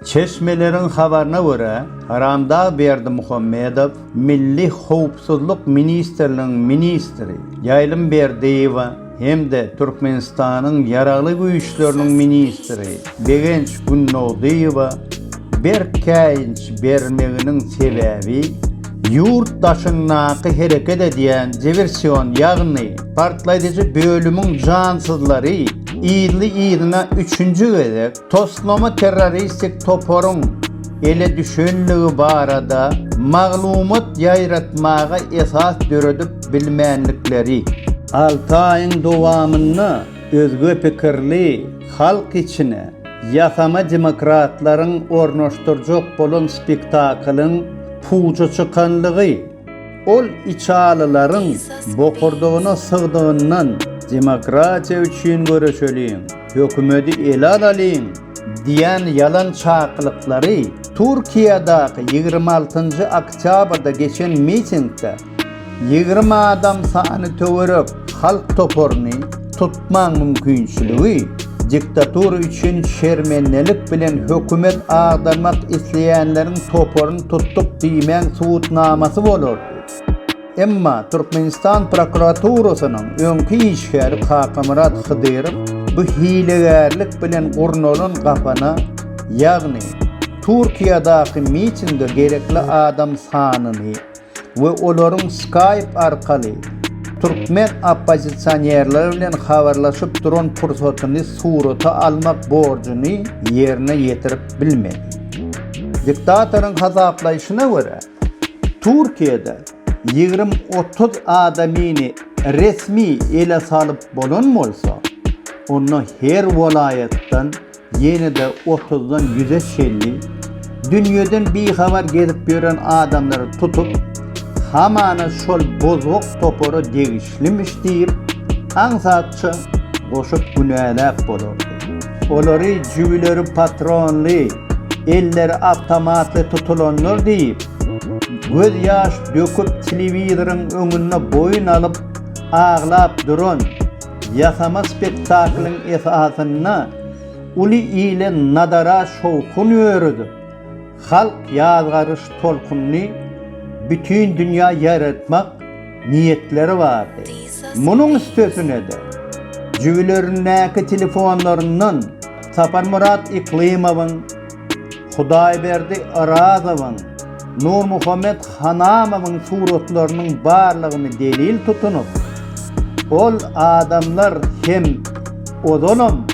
Çeşmeleriň habaryna görä, Haramdag Berdimuhamedow Milli howpsuzlyk ministrliginiň ministri Ýaýlym Berdiýewa hem-de Türkmenistanyň Ýaragly Güýçleriniň ministri Begenç Günnogdyýewa berk käýinç bermeginiň sebäbi ýurt daşyndaky hereket edýän diwersion, ýagny partlaýjy bölümiň jansyzlary yzly-yzyna üçünji gezek Toslama terroristik toparyň ele düşenligi barada maglumat ýaýratmaga esas döredip bilmändikleri, alty aýyň dowamynda özge pikirli halk içine ýasama demokratlaryň ornaşdyrjak bolan spektaklyň puja çykanlygy, ol içalylaryň bokurdagyna sygdygyndan demokratiýa üçin göreşeliň! Hökümedi ele alalyň diýen ýalan çakylyklary Türkiýedäki ýigrimi altynjy oktýabrda geçen mitingde ýigrimi adam sany töwerek halk toparyny tutmaň mümkinçiligi diktatura üçin şermendelik bilen hökümet agdarmak isleýänleriň toparyny tutduk diýmäň subutnamasy bolardy. Emma Türkmenistan prokuraturasynyň öňki işgäri Kakamyrat Hydyrow bu hilegärlik bilen gurnalan gapana, ýagny Türkiýadaky mitinge gerekli adam sanyny we olaryň Skype arkaly türkmen oppozisionerleri bilen habarlaşyp duran pursatyny surata almak borjuny ýerine ýetirip bilmedi. Diktatoryň hasaplaýşyna görä, Türkiýede ýigrimi-otuz adamyny resmi ele salyp bolan bolsa, onda her welaýatdan ýene-de otuzdan ýüze çenli dünýeden bihabar gezip ýören adamlary tutup, hamana şol bozgak topara degişlimiş diýip, aňsatça goşup günäläp bolardy. Olary jübüleri patronly, elleri awtomatly tutulanlar diýip, göz ýaş döküp telewizoryň öňünde boýun alyp aglap duran, ýasama spektaklyň esasynda uly ile nadara şowhun ýöredip, halk ýazgaryş tolkunyny bütin dünýä ýaýratmak niýetleri bardy. Munuň üstesine-de, jübülerindäki telefonlaryndan Saparmyrat Yklymowyň, Hudaýberdi Orazowyň, Nurmuhammet Hanamowyň suratlarynyň barlygyny delil tutunyp, ol adamlar hem ozalam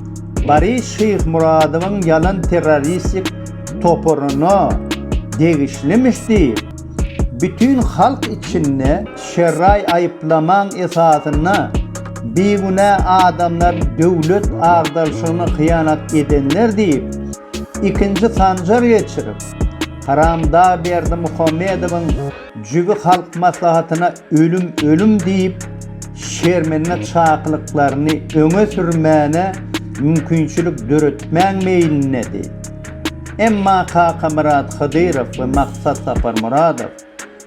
Boris Şyhmyradowyň ýalan terroristik toparyna degişlimiş diýip, bütin halk içinde şerraý aýyplamaň esasynda bigünä adamlar döwlet agdarşygyna hyýanat edenler diýip, ikinji sanjar geçirip, haramdag Berdimuhamedowyň jübi Halk Maslahatyna ölüm, ölüm diýip, şermenlik çakylyklaryny öňe sürmäne mümkinçilik döretmäň meýlindedi. Emma Kakamyrat Hydyrow we Maksat Saparmyradow